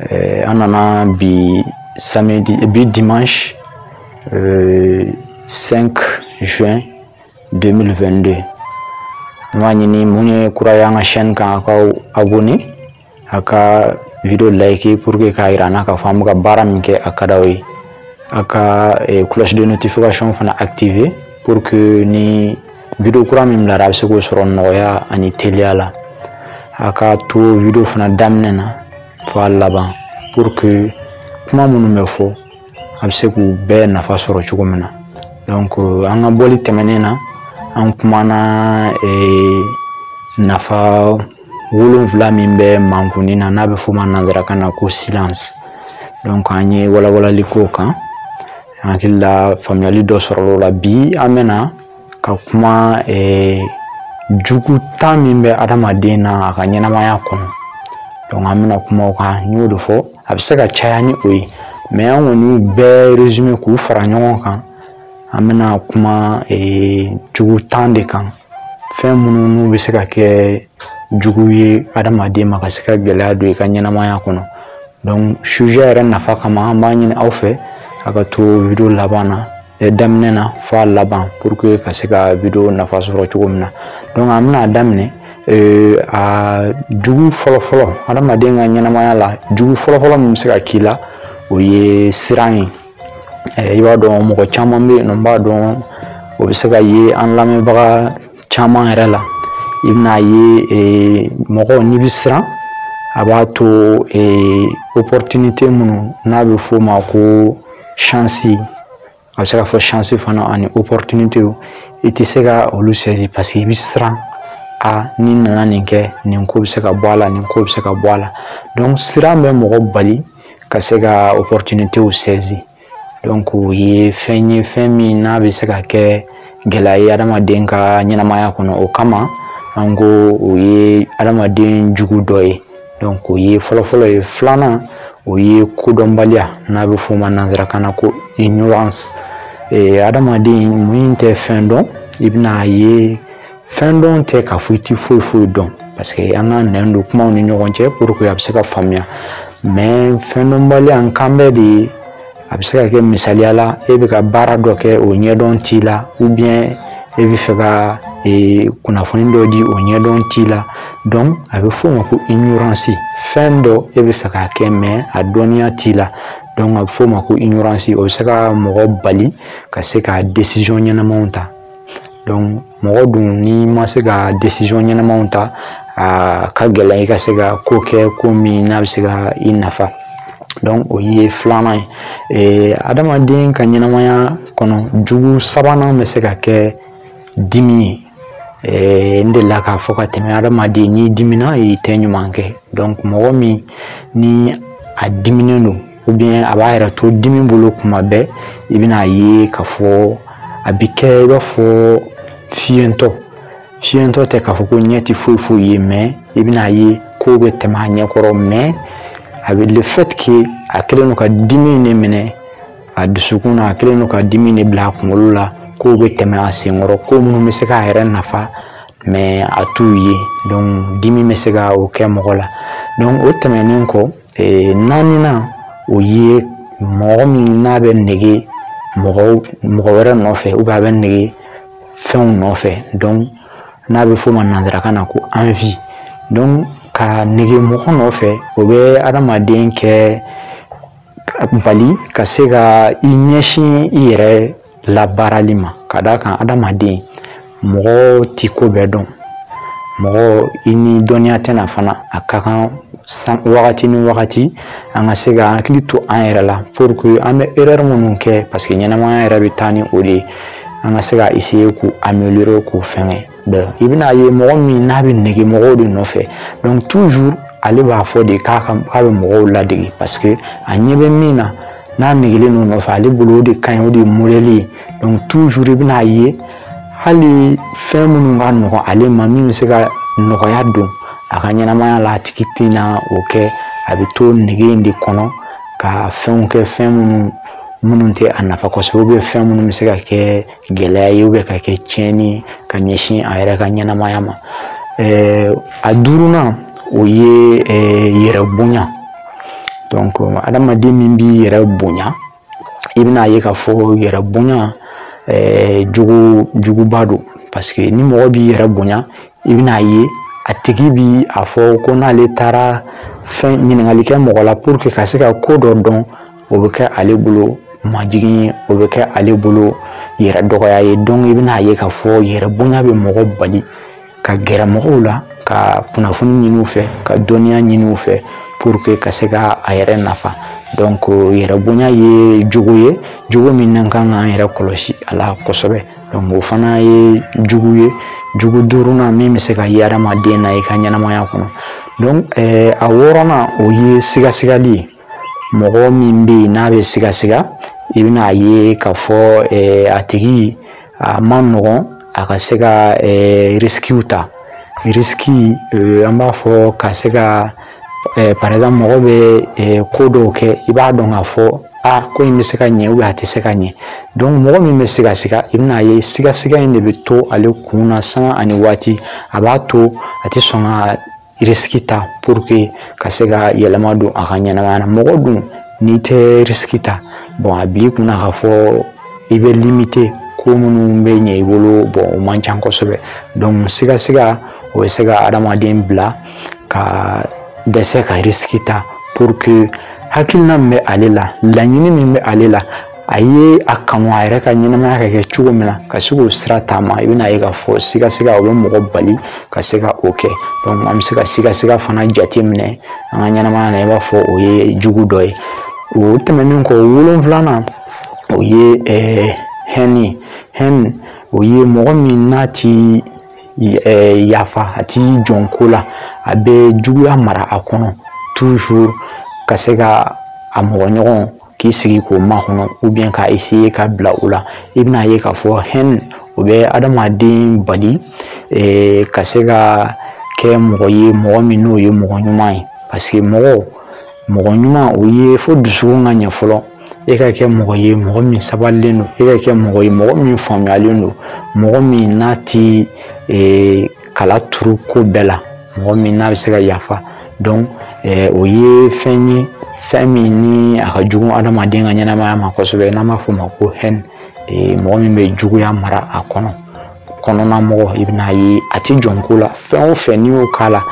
eh, an nana bi samedi bi dimanche euh, 5 juin 2022 n b'a ɲini mun ye kura ye an ka chaîne kan a k'aw abonné a ka video like pour que k'a yira an na k'a fɔ an bɛ ka baara min kɛ a ka d'aw ye a ka eh, cloche de notification fana activer pour que ni video kura min bilara a bɛ se k'o sɔrɔ nɔgɔya ani teliya la a ka to video fana daminɛ na fo a laban pour que kuma minnu bɛ fɔ a bɛ se k'u bɛɛ nafa sɔrɔ cogo min na donc euh, an ka bɔli tɛmɛnen na an kumana euh, nafa wolonfila min bɛ mankunni na n'a bɛ f'o ma nanzarakan na ko silence donc an ye walawalali k'o kan n hakili la faamuyali dɔ sɔrɔla o la bi an bɛna ka kuma eh, jugu tan min bɛ adamaden na a ka ɲɛnamaya kɔnɔ donc an bɛna kuma o kan n y'o de fɔ a bɛ se ka caya ni o ye mais an kɔni bɛɛ résumé k'u fara ɲɔgɔn kan an bɛna kuma eh, jugu tan de kan fɛn minnu n'u bɛ se ka kɛ jugu ye adamaden ma ka se ka gɛlɛya don i ka ɲɛnamaya kɔnɔ donc sujet yɛrɛ nafa kama an b'a ɲini aw fɛ a ka to video laban na daminɛ na fo a laban pour que ka se ka video nafa sɔrɔ cogo min na donc an bɛna daminɛ Euh, a jugu fɔlɔfɔlɔ adamaden ka ɲɛnamaya la jugu fɔlɔfɔlɔ min bɛ se ka k'i la o ye siran ye i b'a dɔn mɔgɔ caman bɛ yen nɔ n b'a dɔn o bɛ se ka ye an lamɛnbaga caman yɛrɛ la i bɛn'a ye eh, mɔgɔ n'i bɛ siran a b'a to eh, opportunité minnu n'a bɛ f'o ma ko chance a bɛ se ka fɔ chance fana ani opportunité i tɛ se ka olu saisi parce que i bɛ siran a n'i nana nin kɛ nin ko bɛ se ka bɔ a la nin ko bɛ se ka bɔ a la donc siran bɛ mɔgɔ bali ka se ka opportunitéw saisi donc o ye fɛn ye fɛn min n'a bɛ se ka kɛ gɛlɛya ye adamaden ka ɲɛnamaya kɔnɔ o kama an ko o ye adamaden jugu dɔ ye donc o ye fɔlɔfɔlɔ ye filanan o ye kodɔnbaliya n'a bɛ f'o ma nanzarakan na ko ignorance adamaden mun tɛ fɛn dɔn i bɛn'a ye fɛn dɔn tɛ k'a fɔ i ti foyi foyi dɔn parce que an ka nɛn don kumaw ni ɲɔgɔn cɛ pour que a bɛ se ka faamuya mais fɛn dɔnbaliya n kan bɛ de ye a bɛ se ka kɛ misaliya la e bɛ ka baara dɔ kɛ o ɲɛdɔn t'i la ou bien e bɛ fɛ ka e, kunnafoni dɔ di o ɲɛdɔn t'i la donc a bɛ f'o ma ko ignorance fɛn dɔ e bɛ fɛ k'a kɛ mais a dɔnniya t'i la donc a bɛ f'o ma ko ignorance o bɛ se ka mɔgɔ bali ka se ka décision ɲɛnamaw ta mɔgɔ dun n'i ma se ka décision ɲɛnamaw ta a ka gɛlɛn i ka se ka ko kɛ ko min n'a bɛ se ka i nafa donc o ye filanan ye adamaden ka ɲɛnamaya kɔnɔ jugu sabanan bɛ se ka kɛ dimi ye Eh, n delila k'a fɔ ka tɛmɛ adamaden n'i dimina i tɛ ɲuman kɛ donc mɔgɔ min ni a diminen don a b'a yɛrɛ to dimi bolo kuma bɛɛ i bɛna ye k'a fɔ a bɛ kɛ i b'a fɔ fiyentɔ fiyentɔ tɛ k'a fɔ ko ɲɛ tɛ foyi foyi ye mais i bɛna ye kow bɛ tɛmɛ a ɲɛ kɔrɔ mais avec le fait que a kɛlen don ka dimi in de minɛ a dusukun na a kɛlen don ka dimi in de bila a kunkolo la kow bɛ tɛmɛ a senkɔrɔ ko minnu bɛ se k'a yɛrɛ nafa mais a t'u ye donc dimi bɛ se ka o kɛ mɔgɔ la donc o tɛmɛnen kɔ ee naaninan o ye mɔgɔ min n'a bɛ nege mɔgɔ wɛrɛ nɔfɛ ou bien a bɛ nege fɛnw nɔfɛ donc n'a bɛ f'o ma nanzarakan na ko envie donc ka nege mɔgɔ nɔfɛ o bɛ adamaden kɛ bali ka se ka i ɲɛsin i yɛrɛ labaarali ma ka d'a kan adamaden mɔgɔ ti ko bɛɛ dɔn mɔgɔ i ni dɔnniya tɛ na fana a ka kan wagati ni wagati an ka se k'an hakili to an yɛrɛ la pour que an bɛ erreur minnu kɛ parce que ɲɛnamaya yɛrɛ bɛ taa ni o de ye an ka se ka essayer k'u améliorer k'u fɛngɛ i bɛna ye mɔgɔ min n'a bɛ nege mɔgɔw de nɔfɛ donc toujours ale b'a fɔ de k'a ka k'a bɛ mɔgɔw ladege parce que a ɲɛ bɛ min na n'a negelen don o nɔfɛ ale bolo o de ka ɲi o de ye modèle ye donc toujours i bɛna ye hali fɛn minnu ka nɔgɔn ale ma min bɛ se ka nɔgɔya don a ka ɲɛnamaya la a tigi tɛna o kɛ a bɛ to nege in de kɔnɔ ka fɛnw kɛ fɛn minnu minnu tɛ a nafa kosɛbɛ ou bien fɛn minnu bɛ se ka kɛ gɛlɛya ye ou bien ka kɛ tiɲɛni ye ka ɲɛsin a yɛrɛ ka ɲɛnamaya ma ɛɛ a duurunan o ye ɛɛ yɛrɛ bonya donc adamaden min b'i yɛrɛ bonya i bɛna ye k'a fɔ yɛrɛ bonya ɛɛ juguba don parce que ni mɔgɔ b'i yɛrɛ bonya i bɛna ye a tigi bi a fɔ ko n'ale taara fɛn ɲininkali kɛ mɔgɔ la pour que ka se ka ko dɔ dɔn o bɛ kɛ ale bolo majigin ye o bɛ kɛ ale bolo yɛrɛ dɔgɔya ye donc i bɛna ye k'a fɔ yɛrɛ bonya bɛ mɔgɔ bali ka gɛrɛ mɔgɔw la ka kunnafoni ɲini u fɛ ka dɔnniya ɲini u fɛ pour que ka se ka a yɛrɛ nafa donc yɛrɛ bonya ye jugu ye jugu min n'an kan k'an yɛrɛ kɔlɔsi a la kosɛbɛ donc o fana ye jugu ye jugu duurunan min bɛ se ka ye adamaden na i ka ɲɛnamaya kɔnɔ donc a wɔɔrɔnan o ye sigasigali ye mɔgɔ min bɛ yen n'a bɛ sigasiga i bɛna a ye k'a fɔ a tigi a man nɔgɔn a ka se ka risikiw ta risiki an b'a fɔ ka se ka par exemple mɔgɔ bɛ ko dɔw kɛ i b'a dɔn k'a fɔ a ko in bɛ se ka ɲɛ ou bien a tɛ se ka ɲɛ donc mɔgɔ min bɛ sigasiga i bɛna a ye sigasiga in de bɛ to ale kun na sanga ani waati a b'a to a tɛ sɔn ka risiki ta pour que ka se ka yɛlɛma don a ka ɲɛnamaya na mɔgɔ dun n'i tɛ risiki ta bon a b'i kunna k'a fɔ i bɛ limiter ko minnu bɛ ɲɛ i bolo bon o man ca kosɛbɛ donc sigasiga o bɛ se ka adamaden bila ka dɛsɛ ka risiki ta pour que hakilina min bɛ ale la laɲini min bɛ ale la a ye a kanu a yɛrɛ ka ɲɛnamaya ka kɛ cogo min na ka se k'o sira taama i bɛn'a ye k'a fɔ sigasiga o bɛ mɔgɔ bali ka se ka o kɛ an bɛ se ka sigasiga fana jate minɛ an ka ɲɛnamaya na i b'a fɔ o ye jugu dɔ ye o tɛmɛnen kɔ wolonfilanan o ye eh, hɛni hɛni o ye mɔgɔ min n'a ti eh, yafa a ti jɔn ko la a bɛ juguya mara a kɔnɔ toujours ka se ka a mɔgɔ ɲɔgɔn k'i sigi k'o makɔnɔ ou bien ka essayer ka bila o la i bɛn'a ye k'a fɔ hɛn o bɛ adamaden bali eh, ka se ka kɛ mɔgɔ ye mɔgɔ min n'o ye mɔgɔ ɲuman ye parce que mɔgɔ mɔgɔ ɲuman o ye fo dusukun ka ɲɛ fɔlɔ e ka kɛ mɔgɔ ye mɔgɔ min sabalilen don e ka kɛ mɔgɔ ye mɔgɔ min faamuyalen don mɔgɔ min n'a ti eh, kala turu ko bɛɛ la mɔgɔ min n'a bɛ se ka yafa donc eh, o ye fɛn ye fɛn min ni a ka jugu adamaden ka ɲɛnamaya ma kosɛbɛ n'an b'a fɔ o ma ko hɛn eh, mɔgɔ min bɛ juguya mara a kɔnɔ kɔnɔna mɔgɔ i bɛn'a ye a ti jɔn ko la fɛn o fɛn n'i y'o k'a la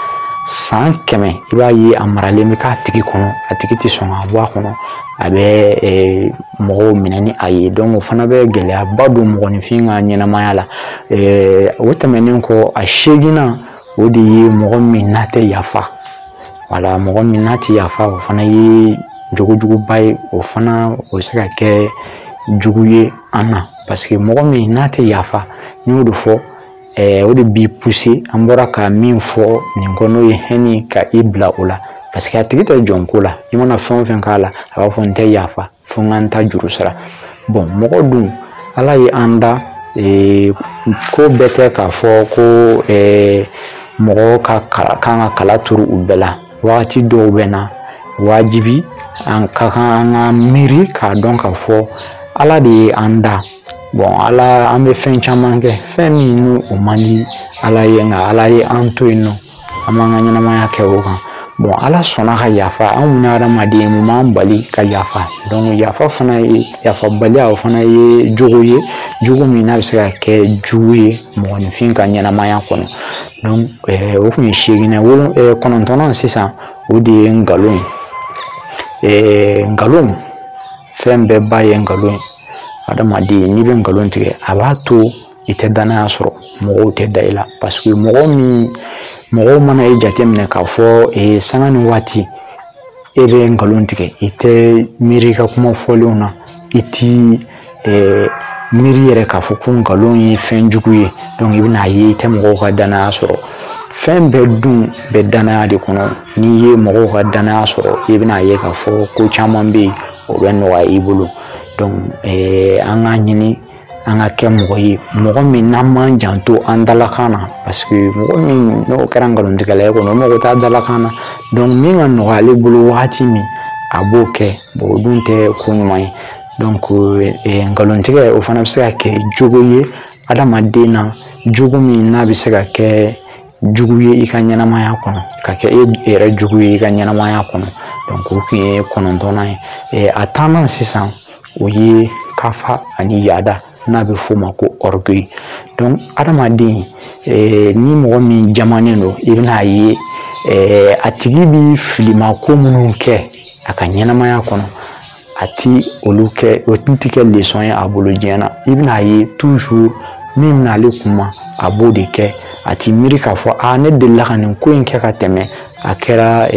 san kɛmɛ i b'a ye a maralen bɛ k'a tigi kɔnɔ a tigi tɛ sɔn k'a bɔ a kɔnɔ a bɛ eh, mɔgɔw minɛ ni a ye donc o fana bɛ gɛlɛyaba don mɔgɔninfin ka ɲɛnamaya la ɛɛ o tɛmɛnen kɔ a seginnan o de ye mɔgɔ min n'a tɛ yafa wala mɔgɔ min n'a tɛ yafa o fana ye jogojuguba ye o fana o bɛ se ka kɛ jugu ye an na parce que mɔgɔ min n'a tɛ yafa n y'o de fɔ ɛɛ o de b'i pousser an bɔra ka min fɔ nin kɔ n'o ye hɛni ka i bila o la parce que a tigi tɛ jɔn ko la i mana fɛn o fɛn k'a la a b'a fɔ n tɛ yafa fo n ka n ta juru sara bon mɔgɔ dun ala ye an da ee, ko bɛɛ tɛ k'a fɔ ko ee, mɔgɔ ka kan ka kala turu u bɛɛ la wagati dɔw bɛ na wajibi an ka kan an ka miiri k'a dɔn k'a fɔ ala de ye an da bɔn ala an bɛ fɛn caman kɛ fɛn min n'o o man di ala ye nka ala ye an to yen nɔ an b'an ka ɲɛnamaya kɛ o kan bɔn ala sɔnna ka yafa anw minnu ye hadamaden mun b'an bali ka yafa dɔnku yafa fana ye yafabaliya o fana ye jogo ye jogo min n'a bɛ se ka kɛ jugu ye mɔgɔninfin ka ɲɛnamaya kɔnɔ dɔnku eh, o tun ye seeginan wolo eh, kɔnɔntɔnnan sisan o de ye nkalon ye eh, nkalon fɛn bɛɛ ba ye nkalon ye adamaden n'i bɛ nkalon tigɛ a b'a to i tɛ danaya sɔrɔ mɔgɔw tɛ da i la paseke mɔgɔ min mɔgɔw mana e jateminɛ k'a fɔ ee sanga ni waati e bɛ nkalon tigɛ i tɛ miiri i ka kuma fɔlenw na i ti miiri yɛrɛ k'a fɔ ko nkalon ye fɛn jugu ye donc i bɛna a ye i tɛ mɔgɔw ka danaya sɔrɔ fɛn bɛɛ dun bɛ danaya de kɔnɔ n'i ye mɔgɔw ka danaya sɔrɔ i bɛna a ye k'a fɔ ko caman bɛ yen o bɛ nɔgɔya i bolo donc an k'a ɲini an ka kɛ mɔgɔ ye mɔgɔ min n'an b'an janto an dalakan na paseke mɔgɔ min n'o kɛra nkalontigɛla ye kɔni o mago t'a dalakan na min ka nɔgɔ ale bolo wagati min a b'o kɛ o dun tɛ ko ɲuman ye donc nkalontigɛ o fana bɛ se ka kɛ jogo ye adamaden na jogo min n'a bɛ se ka kɛ jugu ye i ka ɲɛnamaya kɔnɔ ka kɛ e yɛrɛ jugu ye i ka ɲɛnamaya kɔnɔ donc o tun ye kɔnɔntɔnnan ye a tannan sisan o ye kafa ani yaada n'a bɛ f'o ma ko orgueil donc adamaden ni mɔgɔ min jamanen don i bɛna a ye a tigi bi filimako minnu kɛ a ka ɲɛnamaya kɔnɔ a ti olu kɛ o tɛ kɛ lesɔn ye a bolo diɲɛ na i bɛna a ye toujours min bɛ na ale kunma a b'o de kɛ a ti miiri k'a fɔ a ne delila ka nin ko in kɛ ka tɛmɛ a kɛra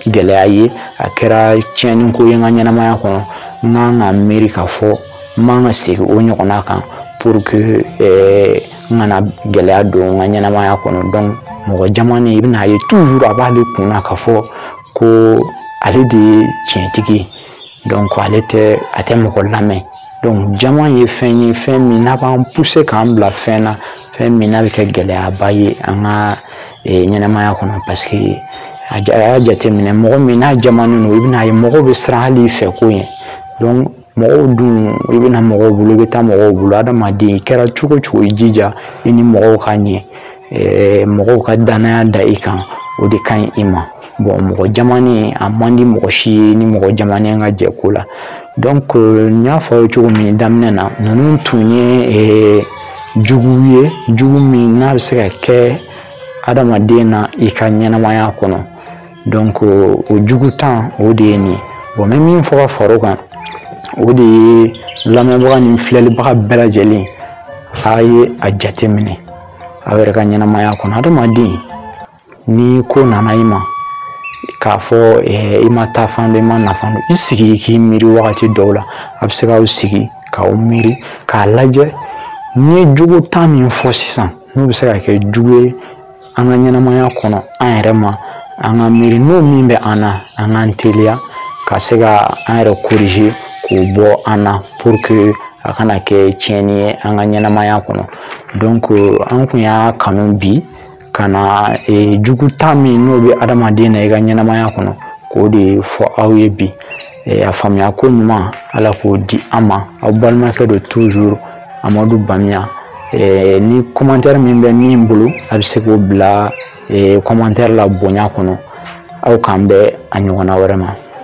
gɛlɛya ye a kɛra tiɲɛni ko ye n ka ɲɛnamaya kɔnɔ n kan ka miiri k'a fɔ n man ka segin o ɲɔgɔnna kan pour que n kana gɛlɛya don n ka ɲɛnamaya kɔnɔ donc mɔgɔ jamanen i bɛna a ye toujours a b'ale kun na k'a fɔ ko ale de ye tiɲɛtigi ye donc a tɛ mɔgɔ lamɛn donc jama ye fɛn ye fɛn min n'a b'an puse k'an bila fɛn na fɛn min n'a bɛ kɛ gɛlɛyaba ye an ka ɲɛnamaya kɔnɔ paseke a y'a jateminɛ mɔgɔ min n'a jamanen don i bɛna a ye mɔgɔw bɛ siran hali i fɛ ko ye mɔgɔw dun i bɛ na mɔgɔw bolo i bɛ taa mɔgɔw bolo adamaden i kɛra cogo o cogo i jija i ni mɔgɔw ka ɲɛ mɔgɔw ka danaya da i kan o de ka ɲi i ma bɔn mɔgɔ jamanen a man di mɔgɔ si ye ni mɔgɔ jamanen ka jɛ ko la donc n y'a fɔ aw ye cogo min daminɛ na ninnu tun ye jugu ye jugu min n'a bɛ se ka kɛ adamaden na i ka ɲɛnamaya kɔnɔ donc o jugu tan o de ye nin ye bon n bɛ min fɔ ka fara o kan o de ye lamɛnbaga ni filɛlibaga bɛɛ lajɛlen a ye a jateminɛ aw yɛrɛ ka ɲɛnamaya kɔnɔ hadamaden ni ko nana i ma k'a fɔ eh, i ma taafan dɔn i ma nafan dɔn i sigi i k'i miiri wagati dɔw la a bɛ se k'aw sigi k'aw miiri k'a lajɛ ne ye jogo tan min fɔ sisan n'o bɛ se ka kɛ jugu ye an ka ɲɛnamaya kɔnɔ an yɛrɛ ma an ka miiri n'o min bɛ an na an k'an teliya ka se ka an yɛrɛ corriger k'o bɔ an na pour que a kana kɛ tiɲɛni ye an ka ɲɛnamaya kɔnɔ donc an kun y'a kanu bi ka na e, jugu tan min n'o bɛ adamaden na i ka ɲɛnamaya kɔnɔ k'o de fɔ aw ye bi a faamuya ko ɲuman ala k'o di an ma aw balimakɛ don toujours amadu bamiya ni commentaire min bɛ min bolo a bɛ se k'o bila commentaire la bonya kɔnɔ aw k'an bɛn a ɲɔgɔnna wɛrɛ ma